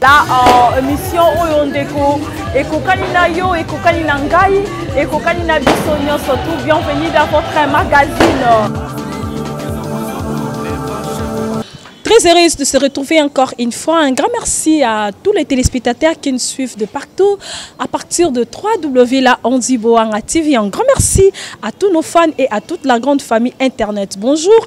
la uh, émission oyo ndeko ekokani na yo ekokani na ngai ekokani na biso nyonso tout bienvenue dans votre magazine Très heureuse de se retrouver encore une fois. Un grand merci à tous les téléspectateurs qui nous suivent de partout à partir de 3W la Andiboanga TV. Un grand merci à tous nos fans et à toute la grande famille Internet. Bonjour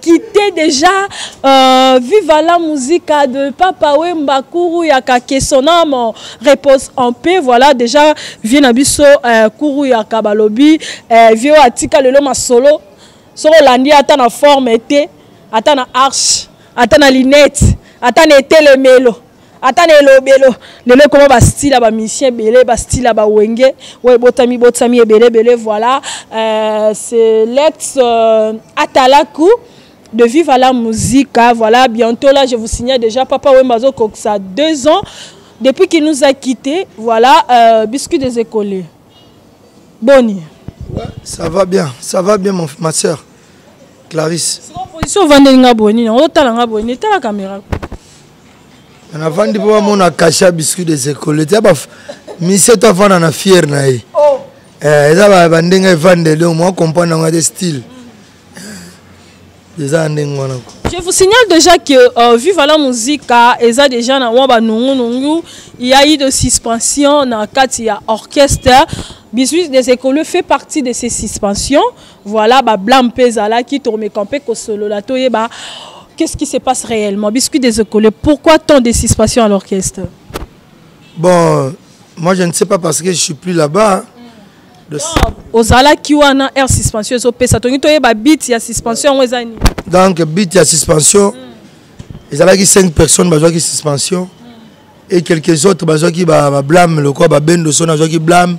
quitter déjà euh, viva la musica de papa wemba kuru yaka que son âme repose en paix voilà déjà vie na biso euh, kuru yaka balobi euh, vie oyo atika lelo masolo soki olandi ata na forme te ata na arche ata na linete ata na etelemelo ata na elobelo lelo ekoma bastile ya bamisien ebele bastile ya bawenge oyo ebotami botami ebele ebele voilà euh, c'est lex euh, atalaku de vivre à la musique hein. voilà bientôt là je vous signale déjà papa wemba azokokisa deux ans depuis qu'il nous a quitté voilà euh, biscuit des écollés boni ouais, ça va bien ça va bien mon, ma soeur clarisse position ovandeli nga boni na otala nga boni etala caméra navandi mpo bamona kashe ya biscuit des écoles tia misie to afanda na fiere na ye oh. eh, eza bandenge evandeli oyo mwa comprendre yango te style eh, eza ya ndenge wana ko Je vous signale déjà que euh, Viva la Musica est déjà na wamba nungu Il y a eu de suspension dans Katia Orchestre. Bisous des écoles fait partie de ces suspensions. Voilà, ba blâme pe ezalaki, tomeka mpe kosolola, toyeba qu'est-ce qui se passe réellement. Biscuit des Okolés, pourquoi tant de suspension à l'orchestre Bon, moi je ne sais pas parce que je suis plus là-bas. ozalaki wana air suspension ezopesa tongi toyeba bit ya suspension yango eza nini donc bit ya suspension mm. ezalaki 5 personnes bazwaki suspension mm. et quelques autres bazwaki bablame ba lokola babendo so nazwaki blame mm.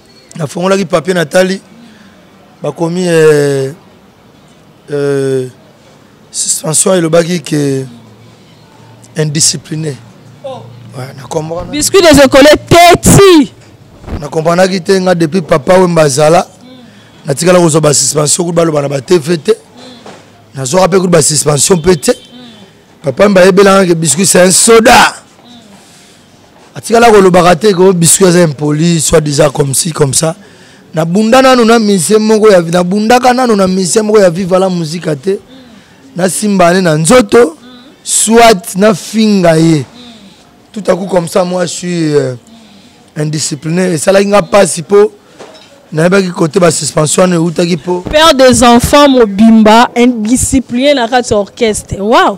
nafongolaki papier natali bakomi eh, eh, suspension elobaki ke indiscipliné oh. ouais, na comprendre biscuit des écoles teti na comprendaki te nga depuis papa wemba azala natikala kozwa basuspension kutu baloba na batefe te nazwaka mpe kutu basuspension mpe te papa mbayebelangaki biscuit c'est un soda atikala kolobaka te ko biscuit aza impoli soit disant comme si comme ça nabunda nano na musicien moko ya nabundaka nano na musicien moko ya viva la musika te nasimba ne na nzoto soit nafinga ye tout à coup comme ça moi je suis euh, indiscipliné esalaki nga mpasi mpo nayebaki kote basuspension wana eutaki mpo père des enfants mobimba indiscipliné na kati ya orchestre waw wow.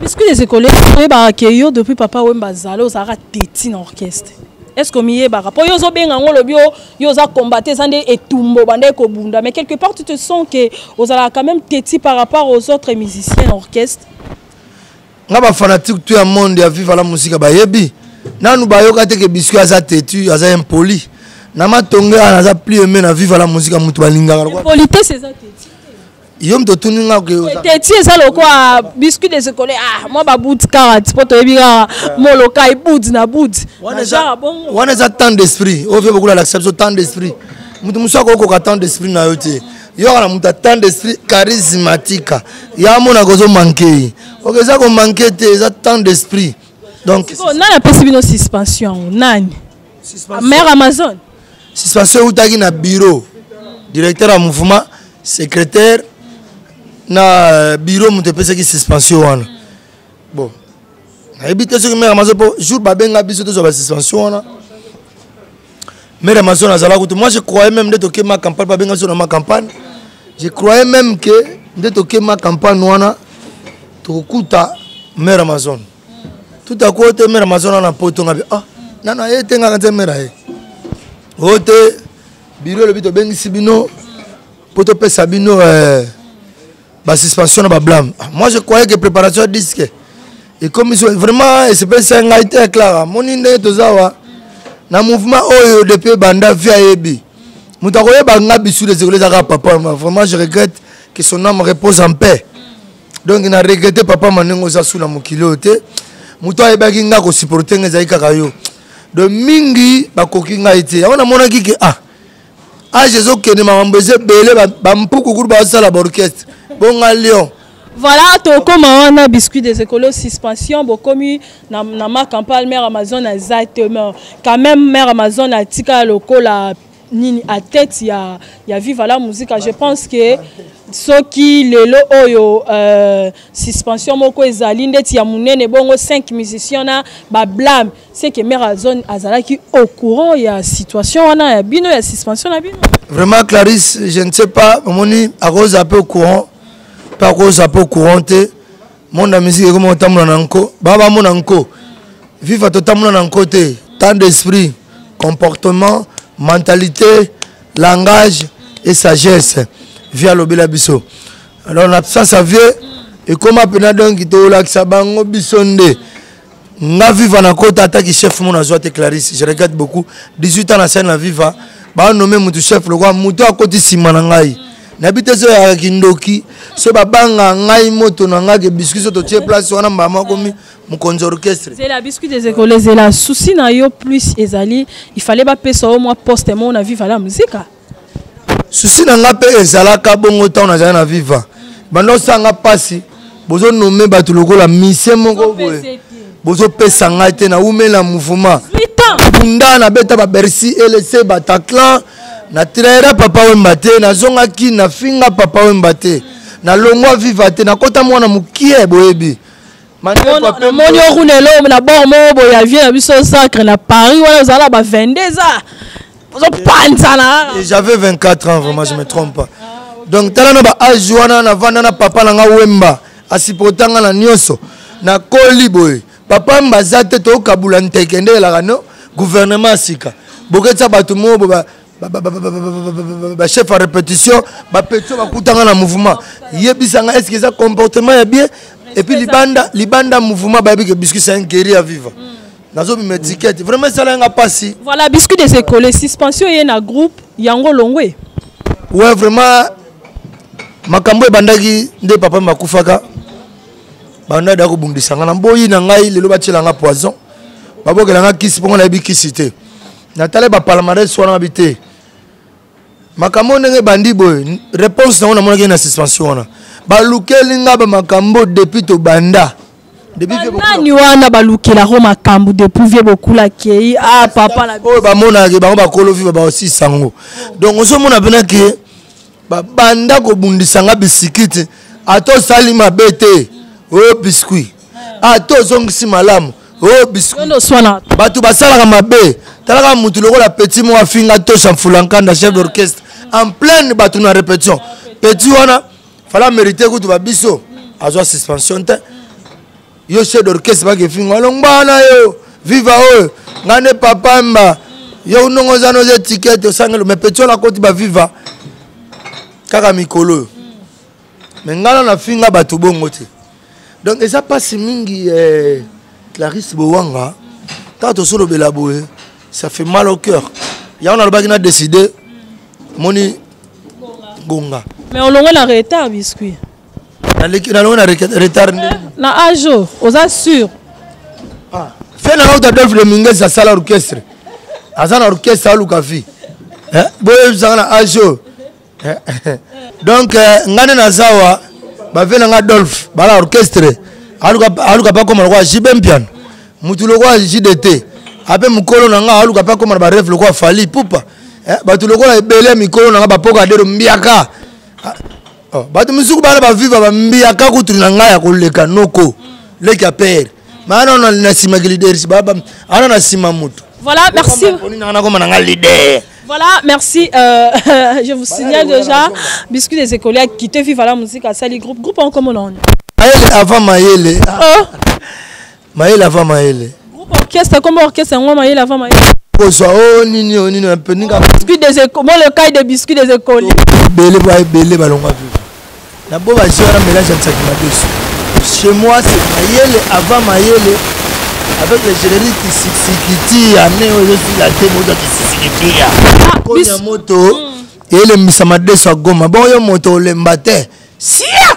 Biscuit des écoles, oyebaka ke yo depuis papa Wemba azali ozalaka teti na orchestre. Est-ce que omiyebaka mpo yo ozobenga yango olobi yo oza combatte eza nde etumbo bandaki kobunda mais quelque part tu te sens ke ozalaka quand même teti par rapport aux autres musiciens na orchestre nga bafanatique to ya monde ya viva la musika bayebi nanu bayoka te ke biscuit aza teti aza impoli na matonge wana aza plus aime na viva la musika moto balingaka politesse eza teti yo moto otuni nga teti eza lokola biscuit des école ah mwa babudi kaka ti mpo toyebi kaka eh. molokai budi na budi wana eza temps d'esprit oyo mpe bokolalakisa biso temps d'esprit moto mosusu akokoka temps d'esprit na yo te yoka na moto atant d'esprit charismatika ya mona kozo manke ye oke eza komanke te eza tant d'esprit donc nani apesi bino suspension yango nani mère amazon suspension eutaki na bureau directeur ya mouvement secrétaire na euh, bureau moto epesaki suspension wana bon nayebi te soki mère amazon mpo jour babenga biso tozwa basuspension wana mère amazon azala kutu moi je croyais même nde toke ma campagne babenga biso na ma campagne je croyais même ke nde toke ma campagne wana tokokuta mère amazon tout à coup oyo te mera mazona na poto nga bi ah nana ye te ngaka nze mera ye oyo te biro elobi tobengisi bino mpo topesa bino eh, basuspension na bablame ah, moi je croyais que préparation ya disque ekomi so vraiment espèce ya ngai te clara moni ndenge toza awa na mouvement oyo depuis banda vie ayebi moto akoyeba nga bisu les ekolo ezaka papa vraiment je regrette que son âme repose en paix donc na regrete papa ma ndenge oza su na mokili oyo te moto ayebaki ngai kosupporte ngai ezali kaka yo de mingi bakoki ngai te yango namonaki ke ah age ezokende makambo eza ebele bampuku kutu bazosala baorchestre bonga lion voilà tokoma wana biscuit des écolos suspension bokomi na, na marc ampal mare amazon aza te quand même mare amazon atika lokola nini à tête ya, ya viva la musica je pense que soki lelo oyo euh, suspension moko ezali ndeti ya monene bongo 5 musiciens na bablame c'est que mare azone azalaki au courant ya situation wana ya bino ya suspension na bino vraiment clarisse je ne sais pas omoni akoza pe au courant pe akoza pe au courant te monde ya musique ekomi kotambola na nko baa bamona nko viva totambola na nko te temps d'esprit comportement mentalité langage et sagesse vie alobela biso alors na absence ya vieux ekoma mpena donki tolakisa bango biso nde nga viva na kota ata ki chef mona azwa te clarisse je regrette beaucoup 18 ans na scène na viva banome motu chef lokola motu akoti nsima na ngai nayebi te so yaka kindoki so babanga ngai moto na ngai ke biscuit so totie place wana mbala makomi mokonzi orchestre zela biscuit des écoles ezela souci na yo plus ezali il fallait bapesa yo mwa poste moko na viva la musique susi na nga mpe ezalaka bongo ntango nazali na viva banda osala nga mpasi bozonome bato lokola misie moko boye bozopesa ngai te naumela mouvement bunda nabeta babercy elese bataclan na traira papa wemba te nazonga kini nafinga papa wemba te nalongwa viva te nakota mwana mokie boyebi namoni yo kuna eloo na bor moko boye ya vie na biso zacre na paris wana ozala ba 22 eza ozopanzana j'avais 24 ans vraiment je me trompe pas donc tala na ba age wana navanda na papa na nga wemba asipota nga na nyonso nakoli boye papa mbaza te tokabula nteke nde elaka no gouvernement ya sika boketisa bato moo bachef ya répétition bapetio bakutanga na mouvement yebisanga estce eza comportement ya bien epuis libanda libanda mouvement bayebi ke biscuit c'est un guerrier à vivre mm. nazobima étiquette vraiment esala yanga mpasi voilà biscuit des écoles suspension eye na groupe yango longwe ouais vraiment makambo ebandaki nde papa makufaka banda da kobundisa nga na boyi na ngai lelo batyela nga poison babokela nga kisi mpo nga nayebi kisi te natala ba palmarès wana mabi te makambo ndenge ebandi boye réponse nango namonaki na suspension wana balukeli nga bamakambo depuis tobanda nani wana balukelako makambo depuis vie bokula akei a ah, papa oyo bamonaka bango bakolo viva baosisa yango donc ozomona mpena ke babanda kobundisa nga bisikiti ata osali mabe te o oh, biscuit ata ozongisi malamu o oh, biscuit bato basalaka mabe talaka motu lokola petit moko afinga tosha mfulankanda chef d'orchestre en pleine bato na répétition petit wana fala mérité kutu babiso azwa suspension te yo chef d'orchestre bakefingo alongba na yo viva oyo ngai nde papa mba yo ndongo oza noza etikete osangelo me peti oyo nakoti baviva kaka mikolo oyo me ngai na nafinga bato bongo te donc eza mpasi mingi eh, clarisse bowanga ntango tosolobela boye ça fait mal au cœur yango nalobaki na décide moni gonga mais olongo na retard biscuit nalongo na retard eh, na ajo oza sur ah, fe na auta dolphe de minges asala orchestre aza na orchestre aluka vie eh, boyebisanga na ajo eh, donc ngai nde naza wa bafe na ngai dolphe bala orchestre aluka bakoma lokola jibe mpiano motu lokola jdt ape mokolo na ngai aluka mpe akoma na bareve lokola fali pupa bato lokola ebele ya mikolo na ngai bapoka adero mbiaka oh, bato mosusu bana baviva bambiyaka kutu na ngai ya koleka noko leki ya pere maana ona na nsima ki leaders baba ana na nsima moto voilà merci nakoma na ngai leader Voilà, merci. Euh, je vous signale déjà, Biscuit des écoliers qui te vivent à la musique à Sali Groupe. Groupe en commun. Avant Maëlle. Oh. mayele ava mayele groupe orchestre kombo orchestre yango mayele ava mayele kozwa o oh, nini o oh, nini mpe ninga biscuit des mo le kai de biscuit des écoles ebele ba ebele balongwa viva na bo bazi wana mélange ya nsaki madesu chez moi c'est mayele avant mayele avec le générique kisikitia ne ozosila te moto kisikitia ah, konya moto hmm. elembisa madesu ya goma bongo yo moto olemba te sia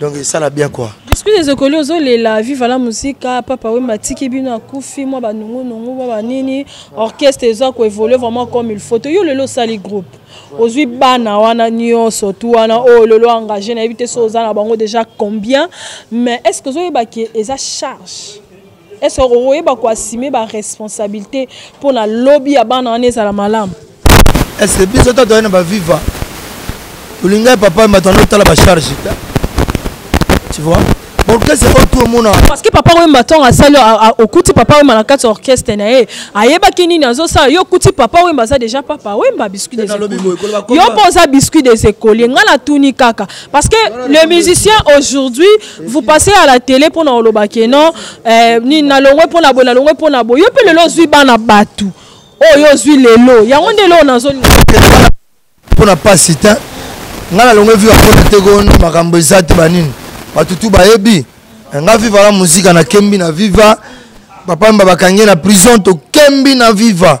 donc esala bien quoi biscuit des okoli ozolela viva la musica papa wemba atiki bino akufi mwa banungunungu mwa banini orchestre eza koévolue vraiment comme il faut toyo lelo osali groupe ozwi bana wana nyonso tu wana oyo oh, lelo engage nayebi te so oza na bango déjà combien mais est ce que ozoyeba ke eza charge Est-ce que vous voyez quoi assumer ba responsabilité pour la lobby à bana on est à la malam. Est-ce que biso tata na ba viva. Olinga papa maintenant on tala ba charge. Tu vois? Pourquoi c'est pas tout le monde Parce que papa oui maintenant à salle au kuti papa oui malaka sur orchestre na ye. Ayeba kini na zo ça yo kuti papa oui baza déjà papa oui ba biscuit des écoles. Yo posa biscuit des écoles. Ngala tuni kaka parce que le musicien aujourd'hui vous passez à la télé pona oloba ke non eh, ni na longwe pona bo na longwe pona bo yo pe lelo zui bana batu oh yo zui lelo yango nde lelo nazo pona pasi te nga na longwe viva pona te ko makambo eza te banini batu tu bayebi eh, nga viva la muzika na kembi na viva papa mba bakangi na prison to kembi na viva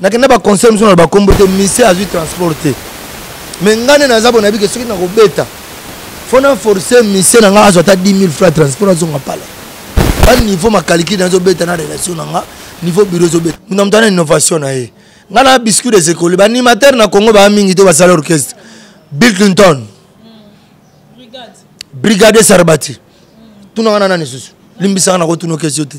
nakenda ba concert mosusu na ba kombo te mise azwi transport te mais ngai nde naza bonayebi ke soki nakobeta fo na force mise na ngai azwa ata 10 000 francs transport azonga pala ba niveau makaliki nazobeta na relation na ngai niveau bureau ezobeta muna moto ana innovation na ye ngai na biscuit des écoles baanimateur na congo baa mingi te basala orchestre bill clinton mm. brigade sarbati mm. tunaka na nani susu limbisaka na kotuna okesio te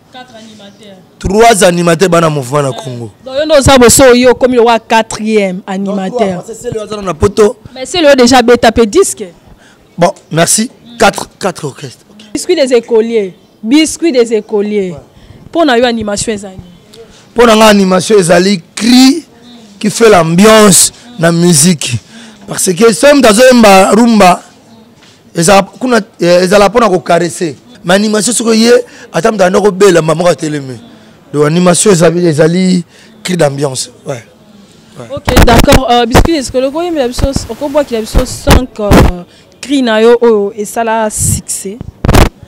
trois animateur bana mouvement na congo donc yo nde oza boso oyo okomi lokola quatrième animateur azana na poto mais sele oyo déjà beta mpe disque bon merci quatre, quatre orchestre okay. biscuit des écoliers biscuit des écoliers mpo ouais. na yo animation ezali mpo na ngai animation ezali cri qui fait l'ambiance na musique parce que soki moto azoyemba rumba ezala kuna eh, ezala mpona kokarese ma animation soki oye ata moto anda kobela mama moko atelemi donc animation ezali cri d'ambiance ouais. Ouais. ok d'accord euh, biscuit esikolo okoyembela biso okobwakela biso 5 euh, cri na yo oyo esala succès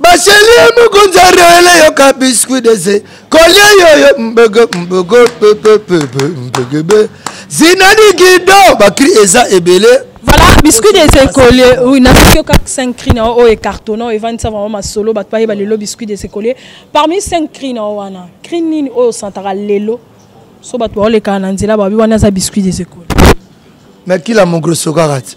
baseli ya mokonzi ya rele yoka biscuit dese kolia yoyo mbogo mbogo pepepepe mbegebe zinani gido bakri eza ebele voilà biscuit des écoliers oui nasoki yo kaka 5 cri na oyo ecartona oyo evandisa bango masolo bato bayeba lelo biscuit des écoliers parmi 5 cri na wana cri nini oyo osantaka lelo so bato baolekaka na nzela babi wana aza biscuit des écoliers mais kila mokolo sokaka te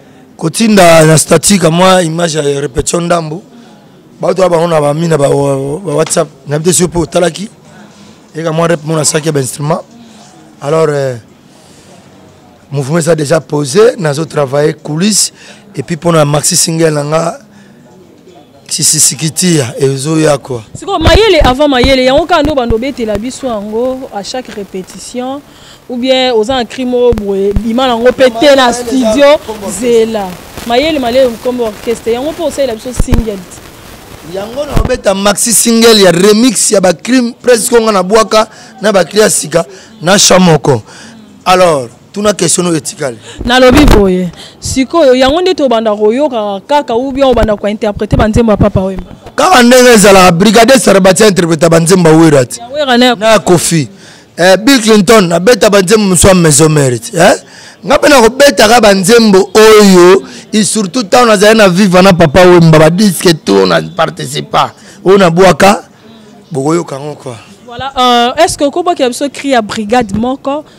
kotinda na statique mwa image ya repetition ndambo bato ya bango na bami na bawhatsapp na bite sio mpe otalaki eka mwa rep mona saki ya bainstrument alors euh, mouvement eza déjà posé nazo travaille coulisse epuis mpona maxi single na nga sisisikitia ezoya kwa sikoyo mayele avant mayele yango kaka nde obanda obetela biso yango à chaque répétition ou bien oza na cri moko boye bima nango mpe te na studio zela mayele mayele nkombo orchestre yango mpe osalela biso single yango na obeta maxi single ya remix ya bacrime presque onga na bwaka na bacri ya sika na cha moko alors tuna question oyo etikali nalobi boye sikoyo yango nde tobanda koyokaka kaka ou bien obanda kointerprete banzembo ya papa wemba kaka ndenge ezalaka brigadier sarabati interpreta banzembo ya wera ti na ya kofi eh, bill clinton abeta banzembo mosusu ya maison mérite eh? nga mpe nakobetaka banzembo oyo surtout ntango nazali na viva na papa wemba badiske to na participa oyo nabwaka bokoyoka yango kua voilà euh, est ce que okobwakela biso cri ya brigade moko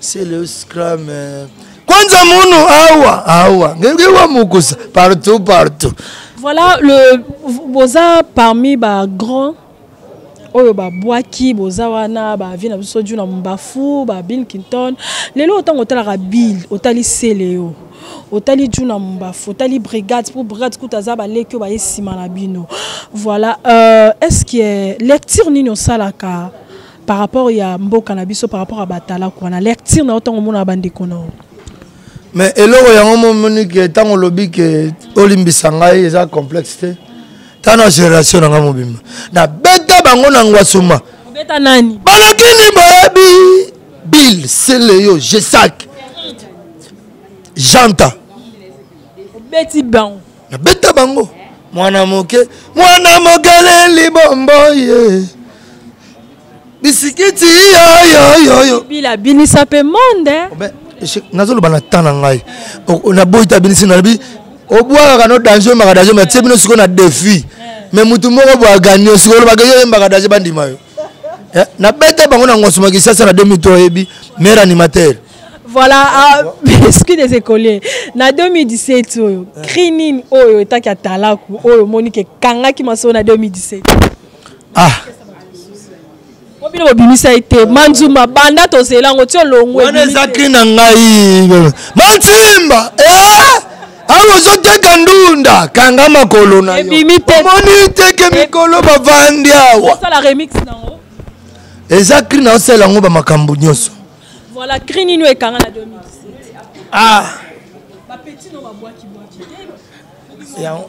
c'est le scrum euh, kwanza munu awa awa ngewa mukusa partout partout voilà le boza parmi ba grands oyo babwaki boza wana bavie na biso juna mbafu ba bill kinton lelo ntango otalaka bill otali sele yo otali juna mbafu otali brigade mpo brigade kutu aza baleki oyo baye nsima na bino voilà euh, est ce que lecture nini osalaka par rapport ya mboka na biso par rapport ya batalaku wana lecture na yo ntango omonaka bandeko na yo mais eloko yango momoni ke ntango olobi ke olimbisa ngai eza complexe te ntango na génération na ngai mobimba nabeta bango na ngwasuma obeta nani balakini boyebi bill seleyo gesak janta obeti bango nabeta bango mwana moke mwana mogale libombo ye yeah. bisikiti yoyoyoyo bila binisa mpe monde eh? nazoloba na temps na ngai naboyi te abinisi nalobi obwakaka no danger oyembaka danger me atie bino sikoyo na défi eh. me motu moko bwa gagne sikoyo olobaka yo oyembaka danger bandima yo eh, na bete bango na ngosuma kisasa na 2003 oyebi maire animateur voilà ah, soki des écoliers na 2017 oyo cri nini oyo etaki ya talaku oyo omoni ke ekangaki masolo na 2017 ah po bino bobimisa ye te manzuma banda tozela yango ti olongwe wana eza cri na ngai mansimba eh! awa ozoteka ndunda kanga makolo na yomoni teke mikolo bavandi awa eza kri na osala yango bamakambo nyonso voilà kri nini oyo ekanga na 2017 ah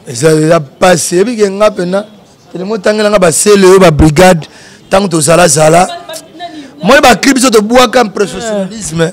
eza mpasi ebike nga mpena telemo otangela nga basele oyo babrigade ntango tozalazala moi bakri biso tobwaka impressionnalisme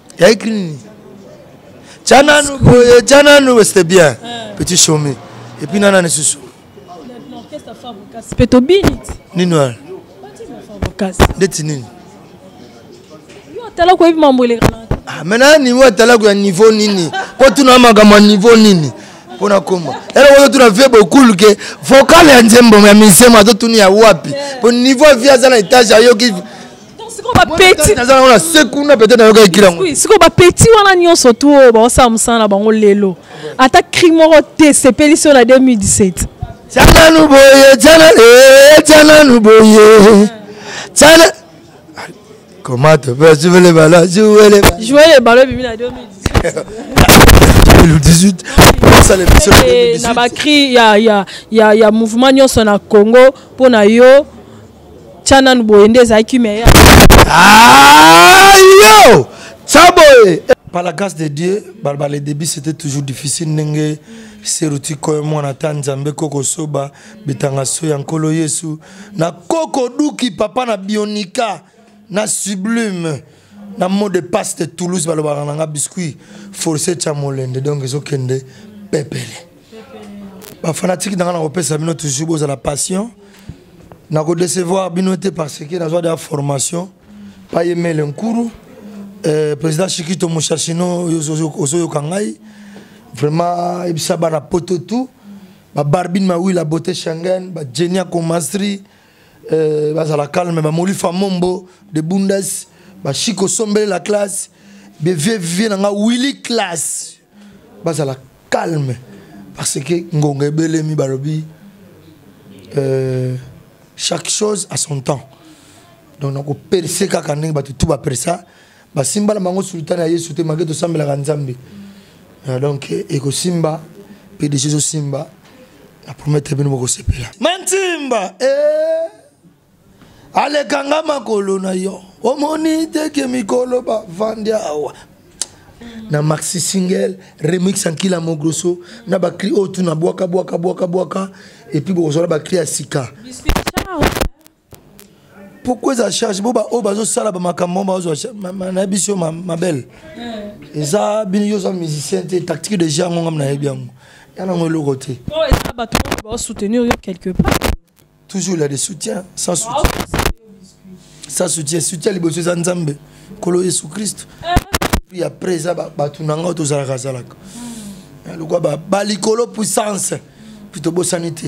ya ekri nini tya nanu boye tya nanu weste bien eh. petit chome epuis nana lisusu mpe tobini nini wana ndeti nini atalaku oyebi mambo eleka ah, maintenant niveau atalaku ya niveau nini mpo tuna makambo ya niveau nini mpo nakoma eloko totuna vie bokulu ke vocal ya nzembo ya misemo azotuni ya wapi mpo niveau ya vie aza na etage ayoki sikoyo bapeti wana nyonso tu oyo baosala mosala na bango lelo ata cri moko te esepelisi oyo na 2017 tiananu boye tiananu eh, boye tiana ah, comment tu peux jouer les ballons jouer les ballons jouer les ballons bimi na 2017 2018 posa na biso na bacri ya mouvement nyonso na congo mpo na yo tya nanu boye nde ezalaki kimia ya ah, yo tya boye par la grâce de dieu balba le début c'était toujours difficile ndenge seruti koyo mwana ata nzambe koko soba bitanga so ya nkolo yesu na koko duki papa na bionika na sublime na mot de passe de toulouse balobaka na nga biscuit force tya molende donc ezokende pepele bafanatike na nga nakopesa bino toujours bozala patient nakodecevoir bino te parce que nazwa deya formation payemele nkuru eh, président chikito moshashino ozoyoka ngai vraiment yebisa bana poto tout babarbine mawila bote shangen bajenia comastri euh, bazala calme bamolifa mombo de bundas bashiko sombele la classe bevie vie na nga willi classe bazala calme parce que ngonga ebelemi balobi euh, chaque chose à son temps donc nakoperse kaka ndenge bato tu bapersa basimba na bango sultani ya yesu te malgre tosambelaka nzambe ah, donc ekosimba mpe deja ezosimba na prometre bino bokosepela mantimba e eh, alekanga makolo na yo omoni teke mikolo bavandi awa na maxi single remix ankila mogroso na bacri oyo oh, tuna bwaka bwaka bwaka bwaka epuis bokozala bacri ya sika pourquoi eza charge bo baoyo bazosala bamakambo bazwa na biso mabele hmm. eza bino yo oza musicien te tactique de genre ngongam nayebi yango ya nango eloko te oh, eza bato baosoutenir yo quelque part toujours la de soutien sans soutien sans soutien soutien liboso eza nzambe nkolo yesu kristo eh. puis après eza bato na ngai tozalaka zalaka hmm. eh, lokwa balikolo puissance puis tobosani te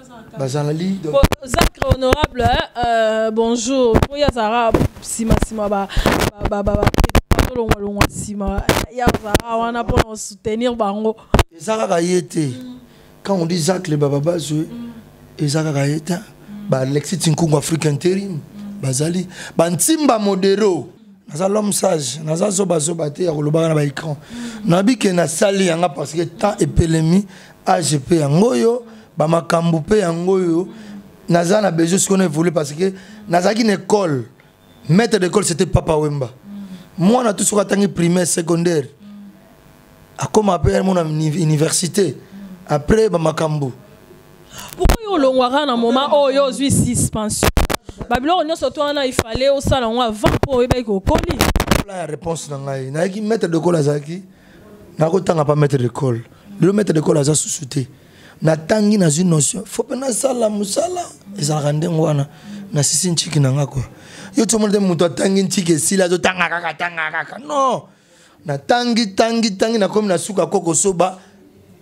bazalali zacre honorable hein, euh, bonjour mpo ye azalaka nsima nsima batolongwa longwa nsima ye azalaka wana mpo na kosoutenir bango eza kaka ye te quand on dit zacle bababazwe eza kaka ye te baalexi tinkungu afrique interim bazali bantimba modero naza l'homme sage naza zobazoba te ya kolobaka na baécran nabi ke nasali yanga parce que temps epelemi age mpe yango oyo bamakambo mpe yango oyo naza na besoin sikoyo na évolue parce que nazalaki na école maître d'école c'était papa wemba mwana tu soki atangi primaire secondaire akoma mpe mona université après bamakambo pourquoi yo olongwaka na moment oyo ozwi suspension babiloko nyonso to wana ifale osala yango avant mpo oyebaki kokoli ya réponse na ngai nayaki maître de kole azalaki nakotanga pa maître de cole lelo maître de cole aza susu te natangi nazwi notion fo mpe nasala mosala ezalaka ndenge wana nasisi ntiki na nga kua yo tomona te moto atangi ntiki esili azotanga kaka tanga kaka non natangi tangi tangi nakomi na suka ko kosoba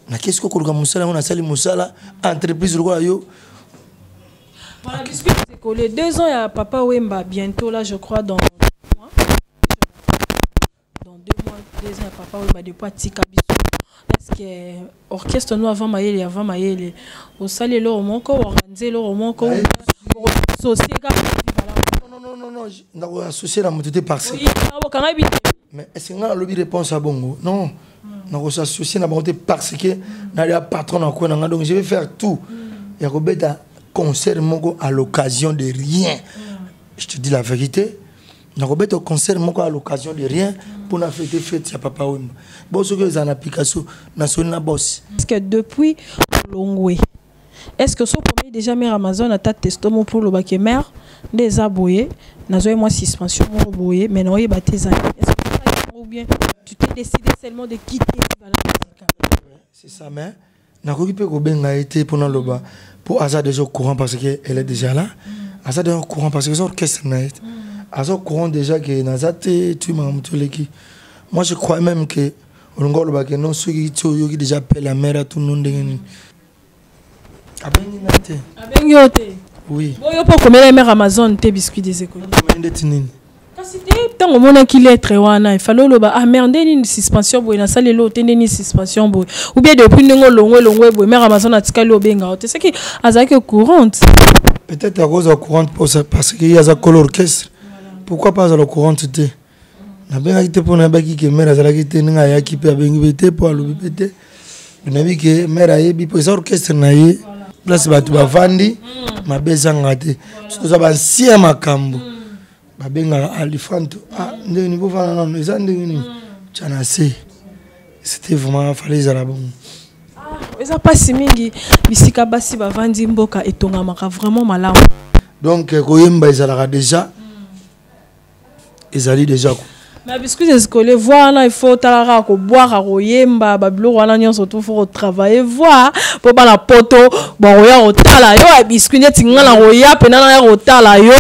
nakesi ko koluka mosala yango nasali mosala entreprise lokola yo Voilà, puisque c'est collé deux ans, il y a Papa Wemba, bientôt là, je crois, dans dans deux mois deux ans papa oyo badepo atika biso eske orchestre no avant mayele avant mayele osali eloko moko organise eloko moko sosie kaka nakoassocie na moto te parceokanga yebi te mais est ce que ngai nalobi réponse ya bongo non hmm. nakosassocier na bango te parce que nalia patron na kwe na ngai donc je vais faire tout hmm. ya kobeta concert moko à l'occasion de rien hmm. je te dis la vérité nakobeta concert moko à l'occasion de rien mpo na fete fete ya papa wemba bo soki eza na application nasoni na bosi parce que depuis olongwe est ce que soki okomi déjà mare amazon ata testo mo mpo olobaka ye mare nde eza boye nazwaki mwa suspension moko boye mais naoyeba te eza ou bien tu t'es décidé seulement de quitter libala musicale c'est ça mais nakoki mpe kobenga ye te mpo naloba mpo aza déjà au courant parce que elle est déjà là mm. aza déjà au courant parce que eza orchestre na ye mm. aza au courant déjà ke naza te tu makambo ti oleki moi je crois même ke olingi oloba ke non soki ti oyoki déjà appel ya mare atunu ndenge nini abengi ngai te abengi yo te oui boyo mpo okomela mare amazon te biscuit des écoles ndeti nini kasi te ntango omonaki lettre wana efale oloba ah mère nde nini suspension boye nasali eloo te nde nini suspension boye ou bien depuis ndenge olongwe elongwe boye mère amazon atikali obenga yo te soki azalaki au courante peut-être akozala au courante mposa parce que ye aza kolo orchestre pourquoi pas azala au courante te nabengaki te mpo nayebaki ke mère azalaki te ndenge ayaki mpe abengi mpe te mpo alobi mpe te nayebi ke mare ayebi mpo eza orchestre na ye place bato bavandi mm. mabe ezanga te soki toza bansi ya makambo mm. babengaka alifanto ah, ndenge nini bofana nano eza ndenge nini mm. tya na se c'était vraiment fale ezala bongo ah, eza mpasi mingi bisika basi bavandi mboka etongamaka vraiment malamu donc eh, koyemba ezalaka déjà ezali deja ko na biscuit escole voix wana ifo otala kaka kobwaka koyemba babiloko wana nyonso tu fo kotravaille voix mpo bana poto bakoya kotala yo ya biscuit neti ngai nakoya mpena naya kotala yo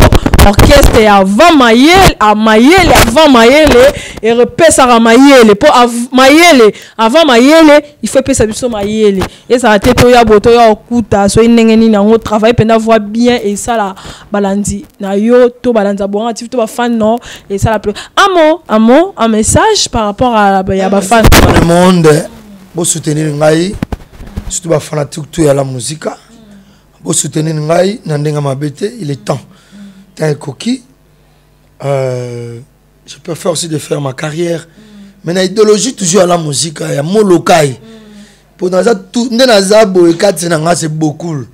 orchestre ya avant mayele a mayele avant mayele erepesaka mayele mpo mayele avant mayele ifo epesa biso mayele ezala te toya bo toya okuta soki ndenge nini yango travail mpenza voi bien esala balandi na yo to balandi ya boanga tiv to bafan no esala mpe amo amo un message par rapport à ya bafan le monde bosoutenir ngai surtout bafanatique to ya la musika bosoutenir ngai na ndenge mabe te il est temps ntango ekoki euh, je peux faire aussi de faire ma carrière mm. mais na idéologie toujours ya la musique ya molokai mm. mpo naza nde naza boye kati na ngai se bokul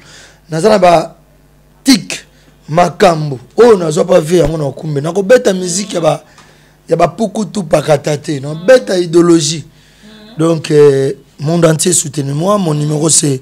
naza na ba tik makambo oyo nazwa mpa vie yango na okumbe nakobeta miziki ya bapukutu pakata te nabeta idéologie donc euh, monde entier soutenu moi mon numéro c'est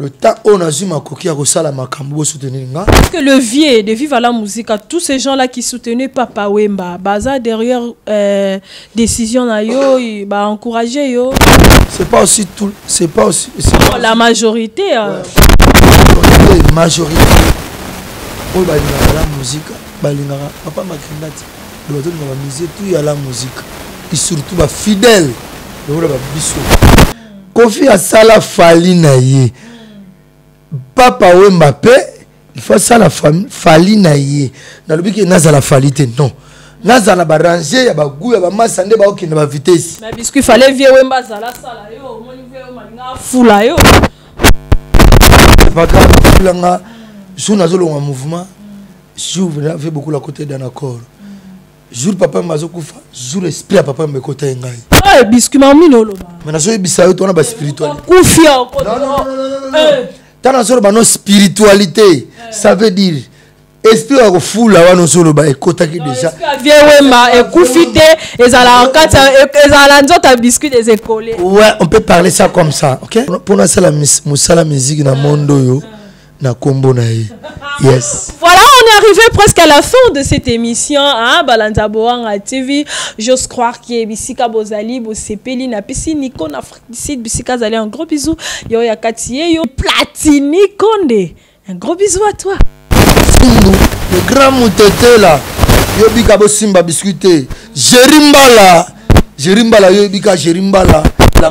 le temps on a zuma koki à kosala makambo bo soutenir nga parce que le vieux de viva la musica tous ces gens là qui soutenaient papa Wemba baza derrière euh, décision na yo ba encourager yo c'est pas aussi tout c'est pas aussi oh, la majorité euh... ouais. majorité oyo balingaka la musique balingaka papa makenda ti bato na bamusicien tout ya la musique et surtout bafidèle lokola babiso kofi asala fali na ye papa wemba mpe il faut asala fali na ye nalobi ke nazala fali te non nazala barange ya bagu ya bamasa nde baokende bavitesi na biscuit fale vie wemba azala asala yo omoni vie yo malinga afula yo paka afulanga jour nazolonga mouvement jour vie bokola kote danakoro jour papa yamba azokufa jour esprit ya papa yamba ekota ye ngai eh, biskima mino oloba me nazoyebisa yo tona baspiritualikufi ntango nazoloba no spiritualité eh. ça veut dire esprit ya kofula wana ozoloba ekotaki déjà vie wemba ekufi te ezalaka kati ezala nzoto ya biscuit des écoles ouais on peut parler ça comme ça ok mpo nasala mosala miziki na monde oyo na kombo na ye yes voilà on est arrivé presque à la fin de cette émission hein, balanza boanga tv j'ose croire que bisika bozali bosepeli na pesi nico na afrique du sud bisika azali un gros bisou yo ya kati ye yo platini konde un gros bisou à toi fumbu le grand mutetela yo bika bosimba biscuit te jeri mbala jeri mbala yo bika jeri mbala la